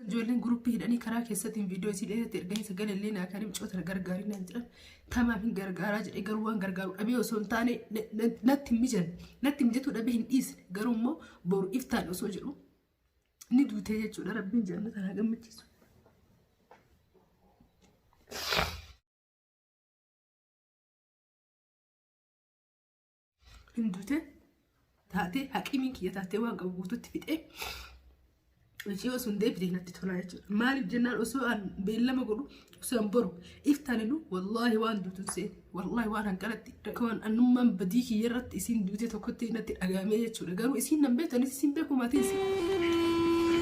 Ijoolleen guruppii hidhanii karaa keessattiin viidiyoo isii dheeratti erganii sagalee illee naa kaanii mucoota na gargaarii naan jedhan tamaaf hin gargaaraa jedhee garuu waan gargaaru dhabee osoo hin taane natti hin mijan natti mijatuu dhabee hin dhiisne garuu immoo boru iftaan osoo jedhu ni duutee jechuudha rabbiin jannata naa gammachiisu. hin duute taatee haqiimiin kiyya taatee waan qabu guututti fixee hojii osoo hin deebitee natti tolaa jechuudha. Maaliif jennaan osoo an beellama godhu osoo an boru iftaaninu wallaahi waan duutu seene wallaahi waan hanqalatti rakkoon annummaan badii kiyya irratti isiin duute tokkotti natti dhagahamee jechuudha. Garuu isiin nan beektu anis isiin beeku maatiin isiin.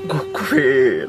Gokkufee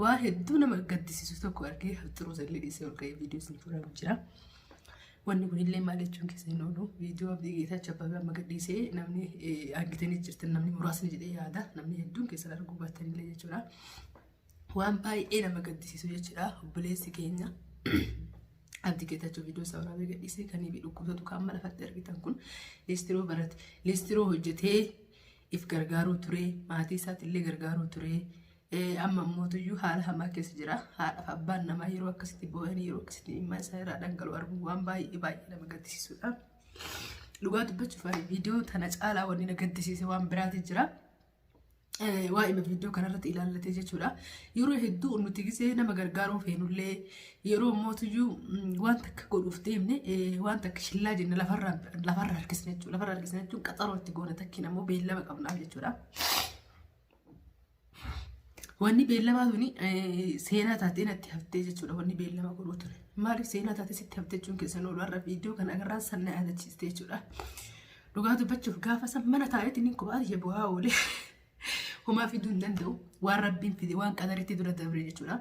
Waa hedduu nama gaddisiisu tokko argee haxxiruu sallee dhiisee ol ka'ee viidiyoo isin fuudhaa jira. Wanni kun illee maal jechuun keessa hin oolu. Viidiyoo abdii geetaa chabbabee amma gadhiisee namni argitanii jirtan namni muraasni jedhee yaada. Namni hedduun keessan arguu baattan illee jechuudha. Waan baay'ee nama gaddisiisu jechuudha. Obboleessi keenya abdii geetachuu viidiyoo isaa waraabee gadhiisee kan ibi dhukkubsatu kan amma lafatti argitan kun liistiroo barate. Liistiroo hojjetee if gargaaruu ture. Maatii isaatti illee gargaaruu ture. Amma ammootuyyuu haala hamaa keessa jira. Haadhaaf abbaan namaa yeroo akkasitti boo'anii yeroo akkasitti dhimma isaa irraa dhangala'u arguun waan baay'ee baay'ee nama gaddisiisudha. Dhugaa dubbachuuf ani viidiyoo tana caalaa wanni na gaddisiise waan biraati jira. Waa'ee viidiyoo kanarratti ilaallatee jechuudha. Yeroo hedduu nuti gisee nama gargaaruu feenullee yeroo ammootuyyuu waan takka godhuuf deemne waan takka shillaa jenne lafarra harkisne jechuudha. Lafarra harkisne jechuun qaxaroo itti goona takkiin ammoo beellama qabnaaf jechuudha. Wanni beellamaa tuni seenaa taatee natti haftee jechuudha wanni beellama godhuu ture. Maaliif seenaa taatee sitti haftee jechuun keessan oolu har'a viidiyoo kan agarraan san na yaadachiiste jechuudha. Dhugaa dubbachuuf gaafa san mana taa'etti niin kophaa kiyya bu'aa oole. Homaa fiduu hin danda'u. Waan rabbiin fide waan qadaritti dura dabre jechuudha.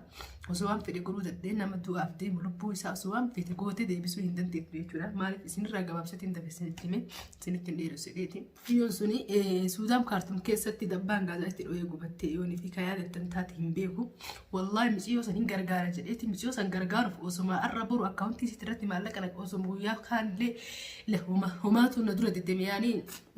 Osoo waan fedhe godhuu danda'e nama du'aaf deemu lubbuu isaa osoo waan fedhe gootee deebisuu hin dandeettu jechuudha. Maaliif isinirraa gabaabsatti hin dabarsin itti hime isinitti hin dheeressu jedheeti. Biyyoon suni Suudaan Kaartum keessatti dabbaan gaazaa itti dho'ee gubattee yoonii fi kayaa dattan taate hin beeku. Wallaahi miciyoo san hin gargaara jedheeti miciyoo san gargaaruuf osuma arra boru akkaawuntii sitti irratti maallaqa naqe osuma guyyaa kaanillee la homa homaatu na dura deddeeme yaanii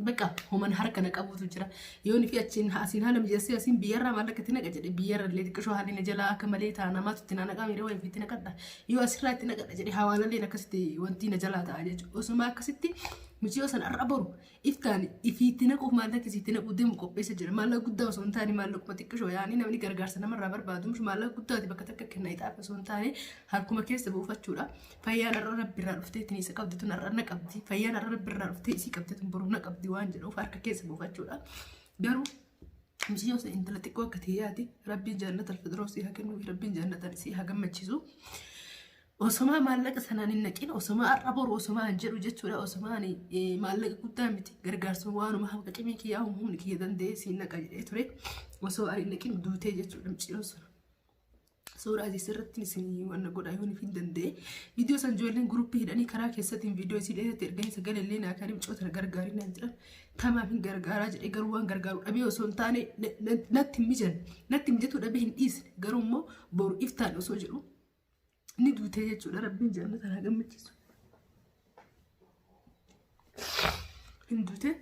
baqa homan harka na qabuutu jira. Yoonii fi achiin asiin haala mijeessee asiin biyyarraa maallaqa itti naqa jedhe biyyarra illee xiqqishoo haalli na jalaa akka malee ta'a namaatu itti na naqaa miiree wayii fi itti naqadha. Yoo asirraa itti naqadha jedhe hawaalalleen akkasitti wanti na jalaa ta'a jechuudha. Osuma akkasitti Mucayyoo sana har'a boru iftaan ifiitti naquuf maallaqa isiitti naquu deemu qopheessa jira. Maallaqa guddaa osoo hin taane maallaquma xiqqishoo yaa'anii namni gargaarsa namarraa barbaadu mishi maallaqa guddaati bakka takka kenna ixaafi osoo hin taane harkuma keessa buufachuudha. Fayyaan har'a rabbi irraa dhuftee ittiin isa qabdi tun har'a na qabdi. Fayyaan har'a rabbi irraa dhuftee isii qabdi tun boru na qabdi waan jedhuuf harka keessa buufachuudha. Garuu Mucayyoo sana intala xiqqoo akka ta'e yaadi. Rabbiin jannata alfidroo si haa kennuuf. Rabbiin jannatan si haa gammachiisu. Osomaa maallaqa sanaan hin naqin osomaa har'a boru osomaa hin jedhu jechuudha osomaa ani eh, maallaqa guddaa miti gargaarsuma waanuma haqa qimii kiyyaa humni kiyya danda'ee siin naqa jedhee ture osoo ani hin naqin duutee jechuudha mucayyoon sana. Suuraa isii sirratti isin wanna godhaa yoo hin danda'e. Viidiyoo san ijoolleen guruppii hidhanii karaa keessattiin viidiyoo isii dheeratti erganii sagalee illee naa karim coota na gargaarii naan jedhan. Tamaaf hin gargaaraa jedhee garuu waan gargaaru dhabee osoo hin taane na- na- natti hin mijan. Natti mijatuu dhabee hin dhiisne. Garuu immoo boru iftaan osoo jedhu Ni duutee jechuudha rabbiin jannata haa gammachiisu. Hin duutee.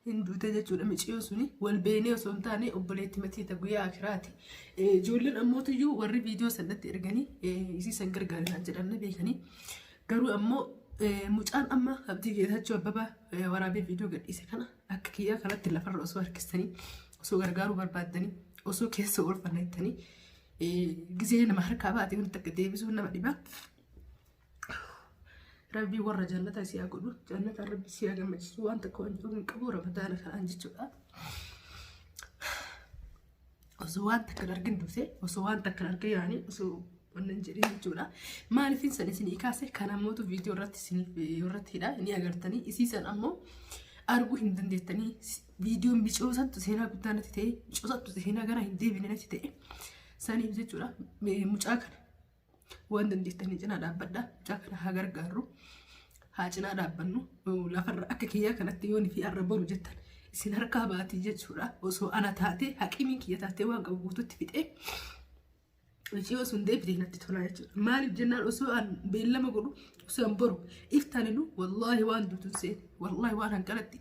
hin duute jechuudha miciyoo suni wal beenee osoo hin taane obboleetti matiita guyyaa akiraati. Ijoolleen ammoota iyyuu warri viidiyoo sanatti erganii isii san gargaarinaan jedhamne beekanii garuu ammoo mucaan amma abdii geetachuu abbabaa waraabee viidiyoo gadhiise kana Akka kiyyaa kanatti lafarra osoo harkistanii osoo gargaaruu barbaaddanii osoo keessa oolfanna jettanii gizee nama harkaa baate wanti akka deebisuun nama dhibaa. Rabbii warra jannata si haa godhu jannata rabbi si haa gammachiisu waan tokko waan jedhu hin qabu ramadaana kanaan jechuudha. osoo waan takkan argin duute osoo waan takkan argin yaani osoo wannan jedhin jechuudha maaliifin san isinii kaase kan ammootu viidiyoo irratti isiniif irratti hidha ni agartanii isii san ammoo arguu hin dandeettanii viidiyoon micoosattu seenaa guddaa natti ta'e micoosattu seenaa gara hin deebine natti ta'e saniif jechuudha mucaa kana Waan dandeettanii cinaa dhaabbadhaa. Mucaa kana haa gargaarru. Haa cinaa dhaabbannu. Lafarra akka kiyyaa kanatti yoon fi arra boru jettan isin harkaa baatii jechuudha. Osoo ana taatee haqimiin kiyya taatee waan qabu guututti fixee Hojii osoo hin deebitee natti tolaa jechuudha. Maaliif jennaan osoo aan beellama godhu osoo aan boru iftaaninu wallaahi waan duutu hin seene wallaahi waan hanqalatti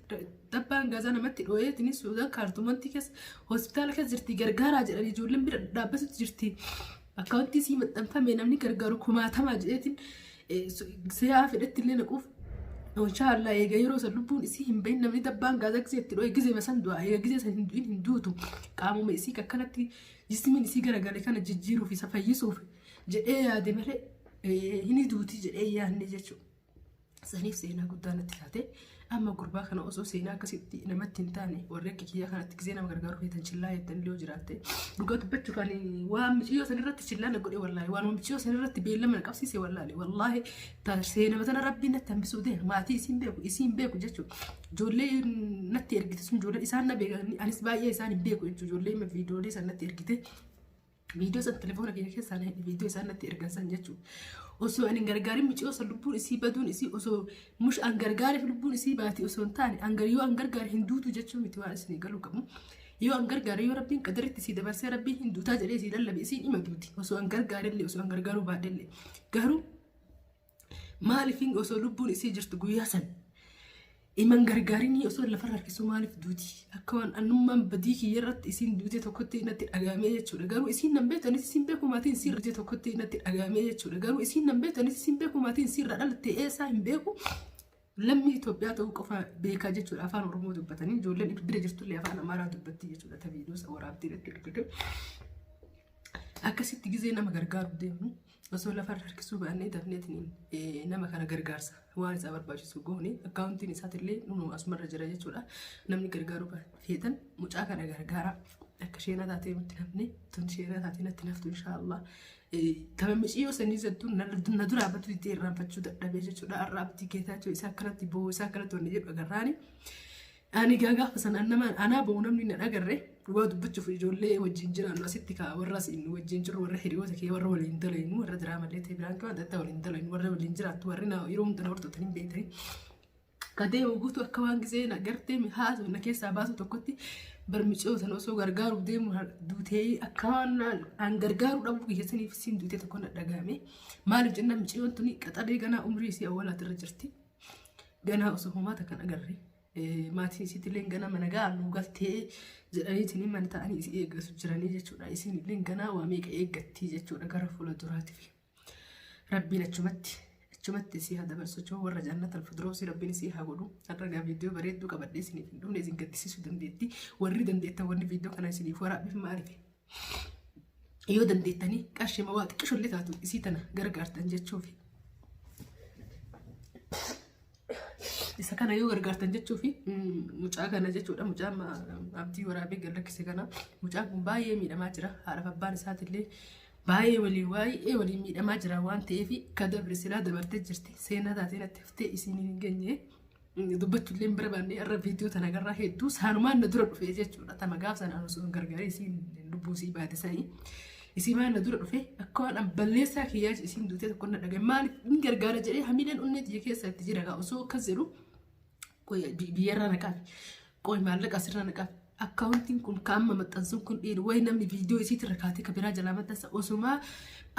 dabbaan gaazaa namatti dhooyeetini suudaan kaartumantii keessa hospitaala keessa jirti gargaaraa jedhanii ijoolleen bira dhaabbatutti jirti. Akkaawuntii sii maxxanfame namni gargaaru kumaatamaa jedheetiin seeraa fedhetti illee naquuf Inshaa Allah eega yeroo san lubbuun isii hin bahin namni dabbaan gaazaa gisee itti dho'e gisee masan du'a eega gisee san hin du'in hin duutu qaamuma isii akkanatti jismiin isii garagale kana jijjiiruuf isa fayyisuuf jedhee yaade malee hini duuti jedhee yaadne jechuudha. saniif seenaa guddaa natti taate amma gurbaa kana osoo seenaa akkasitti namatti hin taane warri akka kiyyaa kanatti gisee nama gargaaru feetan chillaa jettan illee jiraatte dhugaa dubbachuu kan waan miciyyoo san irratti chillaa na godhe wallaahi waan miciyyoo san irratti beellama na qabsiise wallaahi wallaahi ta- seenama tana rabbiin natti hambisuu ta'e maatii isiin beeku isiin beeku jechuudha ijoollee natti ergite sun ijoollee isaan na beekan anis baay'ee isaan hin beeku jechuudha ijoollee viidiyoolee san natti ergite Viidiyoo san telefoona kiyya keessaa na viidiyoo isaan natti ergan san jechuudha. Osoo ani hin gargaarin miciyoo san lubbuun isii baduun isii osoo mush an gargaare lubbuun isii baati osoo hin taane an gar yoo an gargaare hin duutu jechuu miti waan isin galuu qabu. Yoo an gargaare yoo rabbiin qadaritti isii dabarsee rabbiin hin duutaa jedhee isii lallabe isiin ima duuti osoo an gargaare illee osoo an gargaaruu baadhe illee garuu Maaliifin osoo lubbuun isii jirtu guyyaa san iman gargaarinii osoo lafarra harkisuu maaliif duuti akka waan annummaan badii kiyya irratti isiin duutee tokkotti natti dhagaamee jechuudha garuu isiin nan beektu anis isiin beeku maatiin isiin duutee tokkotti natti dhagaamee jechuudha garuu isiin nan beektu anis isiin beeku maatiin isiin irraa dhalatte eessaa hin beeku Lammii Itoophiyaa ta'uu qofa beekaa jechuudha afaan Oromoo dubbatanii ijoolleen bira jirtullee afaan Amaaraa dubbatti jechuudha ta viidiyoo isa waraabdee irratti argite. Akkasitti gizee nama gargaaru deemnu osoo lafarra harkisuu baannee dafneetiin nama kana gargaarsa waan isaa barbaachisu goone akkaawuntiin isaatillee nunu asumarra jira jechuudha namni gargaaruu feetan mucaa kana gargaaraa akka sheenaa taatee nutti namni tun sheenaa taatee natti naftu inshaallah Tama miciyyoo sanii jettuun na duraa battu itti irraanfachuu dadhabee jechuudha. Arraa abdii keetaachuu isaa akkanatti boo'u isaa akkanatti wanni jedhu agarraani. Ani gaa gaafa sana nama anaa boo'u namni na dhagarre waa dubbachuuf ijoollee wajjin jiraannu asitti kaa warra asiin wajjin jirru warra hiriyoota kee warra waliin dalaynu warra diraamallee ta'e biraan kee waan adda addaa waliin dalaynu warra waliin jiraattu warri na yeroo hunda na hordoftan hin beektanii. ka deemu guutuu akka waan gisee na gartee mi haasoo na keessaa baasu tokkotti barmicoo sana osoo gargaaruuf deemu na duutee akka waan naan- aan gargaaruu dhabuu kiyya saniif siin duutee tokko na dhagahame maaliif jennaan miciyoon tuni qaxalee ganaa umrii isii awwaalaati irra jirti ganaa osoo homaata kan agarre eh, maatiin isiitillee ganaa mana ga'a nu galtee jedhaniitiin mana ta'anii isii eeggasu jiranii jechuudha isiinillee ganaa waa meeqa eeggattii jechuudha gara fuula duraatiif. Rabbiin achumatti achumatti isii haa dabarsu jechuun warra jaannata alfudroosii rabbiin isii haa godhu har'a gaa viidiyoo bareedduu qabadhee isiniif hin dhumne isin gaddisiisuu dandeetti warri dandeettan wanni viidiyoo kana isiniif waraabbiif maaliif yoo dandeettanii qarshii mawaa xiqqisho illee taatu isii tana gargaartan jechuufi. Isa kana yoo gargaartan jechuu fi mucaa kana jechuudha mucaa abdii waraabee gad lakkise kana mucaan kun baay'ee miidhamaa jira haadhaaf abbaan isaatillee baay'ee waliin baay'ee waliin miidhamaa jira waan ta'eef ka dabre silaa dabartee jirti seenaa taatee natti haftee isiin hin geenye dubbachuullee hin barbaanne irra viidiyoo tana garraa hedduu saanumaan na dura dhufee jechuudha tama gaaf sanaan osoo hin gargaaree isiin lubbuu isii baate sanii. Isii maal na dura dhufee akka waan an balleessaa kiyyaa jedhe isiin duutee tokko na dhagaye maaliif hin gargaara jedhee hamileen onnee tiyya keessa itti jira gaa osoo akkas jedhu qoy bi- biyyarraa na qabe qoy maallaqa asirraa na qabe akkaawuntiin kun ka amma maxxansuun kun dhiiru wayi namni viidiyoo isiitti irra kaatee ka biraa jalaa maxxansa osumaa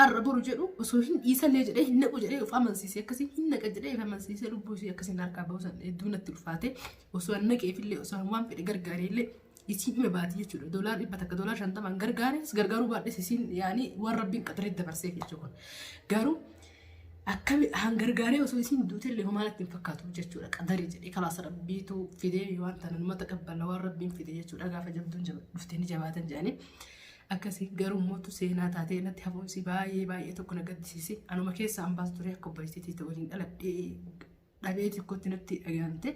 arra boru jedhu osoo hin dhiisallee jedhee hin naqu jedhee of amansiisee akkasiin hin naqa jedhee of amansiisee lubbuu isii akkasiin harkaa bahusan hedduu natti ulfaate osoo an naqeefillee osoo an waan fedhe gargaareellee isiin hime baati jechuudha. Doolaar dhibba takka doolaar shantamaan gargaaris gargaaruu baadhes isiin yaani waan rabbiin qaxaree dabarsee jechuu kun. Garuu akkami han gargaaree osoo isiin duutee illee homaa natti hin fakkaatu jechuudha. Qadarii jedhee kalaasa rabbiitu fidee waan tana nama taqabbala waan rabbiin fide jechuudha. Gaafa jabduun jaba- dhuftee ni jabaatan jedhanii. Akkasii garuu mootu seenaa taatee natti hafuunsi baay'ee baay'ee tokko na gaddisiise. Anuma keessa ambaas turee akka obboleettii ta'u waliin dhaladhee dhabee xiqqootti natti dhagahante.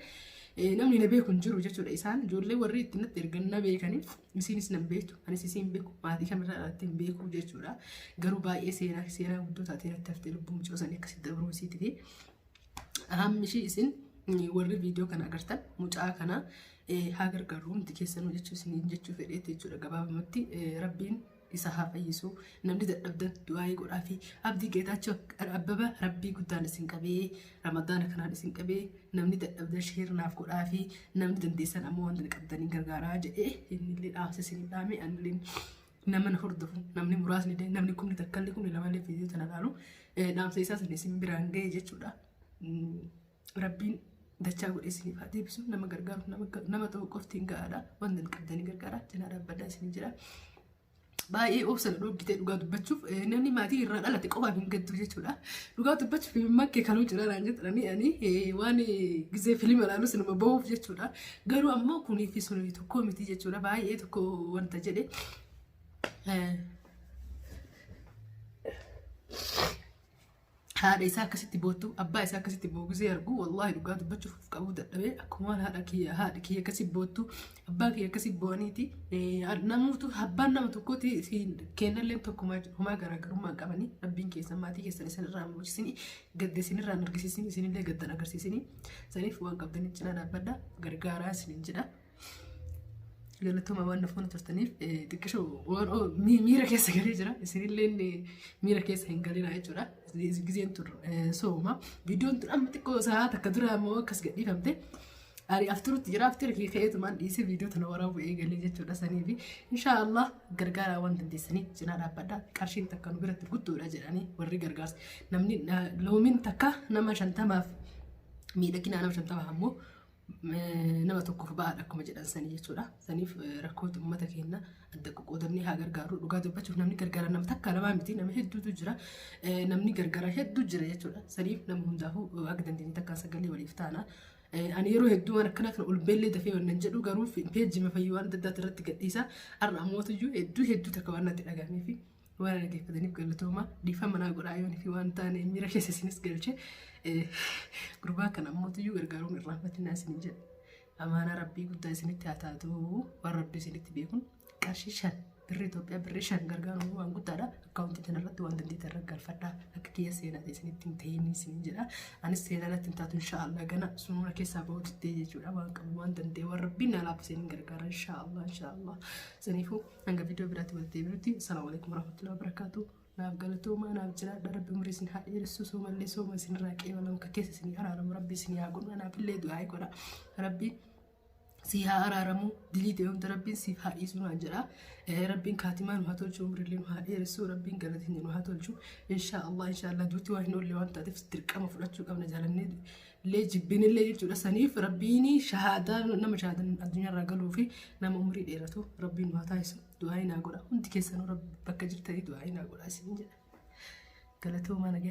Namni na beeku hin jiru jechuudha isaan ijoollee warri itti natti ergan na beekanii isiinis na beektu anis isiin beeku maatii kamirraa irratti hin beeku jechuudha. Garuu baay'ee seenaa seenaa guddoo taatee natti haftee lubbuu mucoo sanii akkasitti dabruu isiiti fi hammi ishii isin warri viidiyoo kana agartan mucaa kana haa gargaaru hundi keessanuu jechuu isiniin jechuu fedheetti jechuudha gabaabumatti rabbiin isa haa fayyisu namni dadhabdan du'aa'ii godhaafi abdii geetaachoo abbaba rabbii guddaan isin qabee ramadaana kanaan isin qabee namni dadhabdan sheernaaf godhaafi namni dandeessan ammoo wanta qabdanii gargaaraa jedhee innillee dhaamsa isin dhaame annillee nama na hordofu namni muraasni illee namni kumni takkallee kumni lamallee fiidiyoo tana laalu dhaamsa isaa sana isin biraan ga'e jechuudha. rabbiin dachaa godhee isiniif haa deebisu nama gargaaruuf nama nama ta'u qofti hin ga'aadha wanti hin qabdanii gargaaraa cinaa dhaabbadhaa isin jira. Baay'ee obsa na dhoggitee dhugaa dubbachuuf eh, namni maatii irraa dhalate qofaan hin gaddu jechuudha. Dhugaa dubbachuuf himimmaan kee kanuu jira naan jedhanii ani eh, waan eh, gizee filima ilaalus nama bahuuf jechuudha. Garuu ammoo kunii fi sunii tokko miti jechuudha baay'ee tokko wanta jedhe. Eh, haadha isaa akkasitti boottu abbaa isaa akkasitti boogisee argu wallaahi dhugaa dubbachuuf of qabuu dadhabee akkuma haadha kiyya haadha kiyya akkasi boottu abbaa kiyya akkasi boo'aniiti namuutu abbaan nama tokkooti kennalleen tokkumaa homaa garaagarummaa hin qabanii rabbiin keessan maatii keessan isin irraa muchisini gadda isin irraa argisiisini isin illee gaddan agarsiisini saniif waan qabdaniin cinaa dhaabbadha gargaaraa isin jedha. Galatoomaa waan nuuf mana turtaniif xiqqisho miira keessa galee jira. Isinillee miira keessa hin galinaa jechuudha. Gizeen tun sooma. Viidiyoon tun amma xiqqoo sa'a takka dura immoo akkas gadhiifamte. Ani afturutti jira aftira kee ka'eetumaan dhiisee viidiyoo tana waraabuu eegalee jechuudha sanii fi inshaallah gargaaraa waan dandeessanii cinaa dhaabbadha qarshiin takka nu biratti guddoodha jedhanii warri gargaarsa namni loomiin takka nama shantamaaf miidhaginaa nama shantamaaf ammoo nama tokkoof ba'aadha akkuma jedhan sanii jechuudha. Saniif rakkoota uummata keenya adda qoqqoodannee haa gargaarru. Dhugaa dubbachuuf namni gargaara nama takka lamaa miti nama hedduutu jira. Namni gargaara hedduu jira jechuudha. Saniif nama hundaafuu akka dandeenye takka sagalee waliif taana. Ani yeroo hedduu waan akkana kana ol beellee dafee waan nan jedhu garuu peejii mafayyuu waan adda addaati irratti gadhiisa. Har'a ammoo iyyuu hedduu hedduu takka waan natti dhagahamee fi Waan dhaggeeffataniif galatooma dhiifama naa godhaa yoon fi waan taane miira keessa isinis galche gurbaa kana ammoo tuyyuu gargaaruun irraanfatinaa isin jedha. Amaanaa rabbii guddaa isinitti haa taatu waan rabbii isinitti beekun qarshii shan birri Itoophiyaa birri shan gargaaruun waan guddaadha. Akkaawuntii kana irratti waan dandeettan irra galfadhaa akka kiyya seenaa isinitti hin ta'in isin jedha. Anis seenaa irratti hin taatu inshaallah gana sunuura keessaa ba'uu diddee jechuudha waan qabu waan danda'e waan rabbiin naa laafisee hin gargaara inshaallah inshaallah saniifuu Hanga viidiyoo biraatti walitti deebinutti salaamu alaikum warahmatullahi wabarakatuh. Naaf galatoomaa naaf jiraadha rabbi umrii isin haa dheeressu soomallee sooma isin irraa qeebalam ka keessa isin araaramu rabbi isin haa godhu anaaf illee du'aa godha rabbi si haa araaramu dilii ta'e hunda rabbiin siif haa dhiisu naan jedha rabbiin kaatimaa nu haa tolchu umrii illee nu haa dheeressu rabbiin galatiin nu haa tolchu inshaa Allah inshaa Allah duuti waan hin oolle waan taateef dirqama fudhachuu qabna jaalannee illee jibbinillee jechuudha saniif rabbiin shahaadaa nama shahaadan addunyaarraa galuu fi nama umrii dheeratu rabbiin nu haa taasisu du'aa inaa godha hundi keessanuu rabbi bakka jirtanii du'aa inaa godha isin jedha galatoomaa nagaa